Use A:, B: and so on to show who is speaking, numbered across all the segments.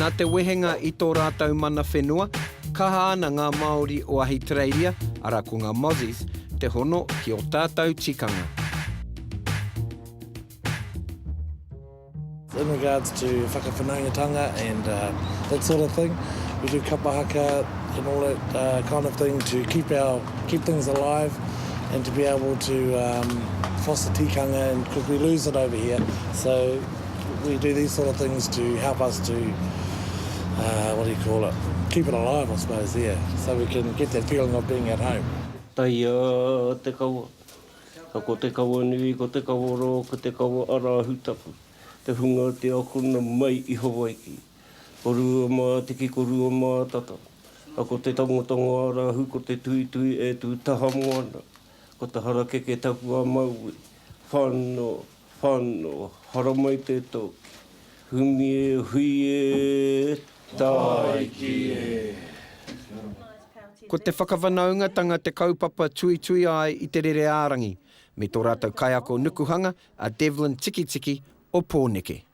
A: Nā te wehenga i tō rātou mana whenua, kaha ana ngā Māori o Ahitereiria, arā ko ngā Mozzies, te hono ki ō tātou tikanga. In regards to whakawhanaungatanga and that sort of thing, we do kapa haka and all that kind of thing to keep our, keep things alive and to be able to foster tikanga because we lose it over here, so. We do these sort of things to help us to, uh, what do you call it, keep it alive, I suppose, yeah, so we can get that feeling of being at home. Taia te kawa, ka ko te kawa nui, ko te kawa ro, ko te kawa arahu tapu, te hunga o te akona mai i Hawaiki. Ko rua ma tiki, ko rua ma tata, ka ko te tongotongo arahu, ko te tuitui e tu taha moana, ko te harakeke tapu a Maui, whano, Whano, haramai te toki. Humi e, hui e, tāiki e. Ko te whakawhanaungatanga te kaupapa tuitui ai i te rere ārangi, me tō rātou kaiako nukuhanga a Devlin Tikitiki o Pōneke.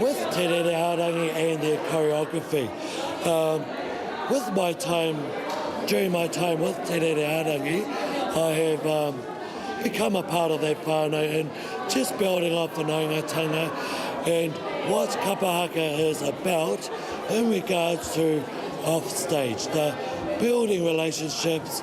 A: With Te Rere Ārangi and their choreography. Um, with my time, during my time with Te Rere Ārangi, I have um, become a part of that whānau and just building our whanaungatanga and what Kapa Haka is about in regards to off stage, the building relationships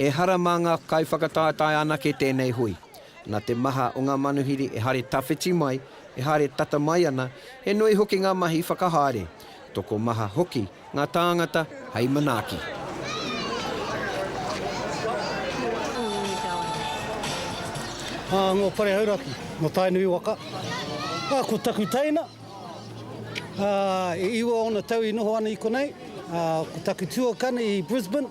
A: Ehara mā ngā kaiwhakataetae anake tēnei hui. Nā te maha o ngā manuhiri e haere tawhiti mai, e haere tata mai ana, he nui hoki ngā mahi whakahaere, tokomaha hoki ngā tāngata hei manaaki. Ā, nō Parehauraki, nō Tainui waka. Ā, ko taku teina, ā, e iwa ōna tau i noho ana i konei. Ā, ko taku tuakana i Brisbane.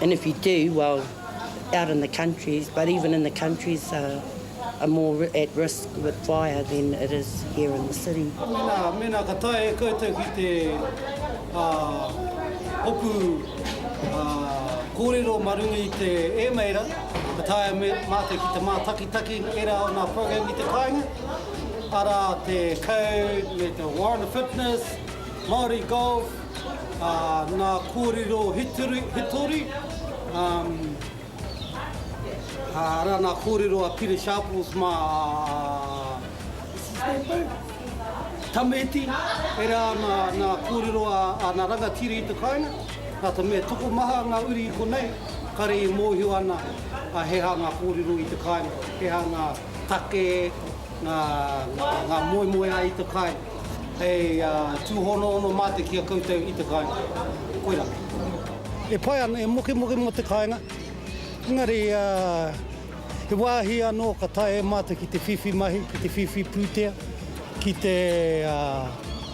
A: And if you do, well, out in the countries, but even in the countries are, are more at risk with fire than it is here in the city. Mēnā, mēnā ka tae e koutou ki te uh, hopu uh, kōrero ma runga i te ēmeira, ka tae me, mātou ki te mātakitaki era o ngā program i te kāinga, ara te code, me te Warren Fitness, Māori Golf, ngā kōrero hitori, arā, ngā kōrero a Peter Sharples mā Tameti, e rā ana ngā kōrero a ngā rangatira i te kāinga, rātau me tokomaha ngā uri i konei, kare i mōhio ana he aha ngā kōrero i te kāinga, he aha ngā. Take ngā moemoeā i te kai, hei tūhonoono mate ki a koutou i te kāinga. Koirā. E pai ana, e mokemoke mō te kāinga, engari he wāhi anō ka taea e mātou ki te whiwhi mahi, ki te whiwhi pūtea, ki te.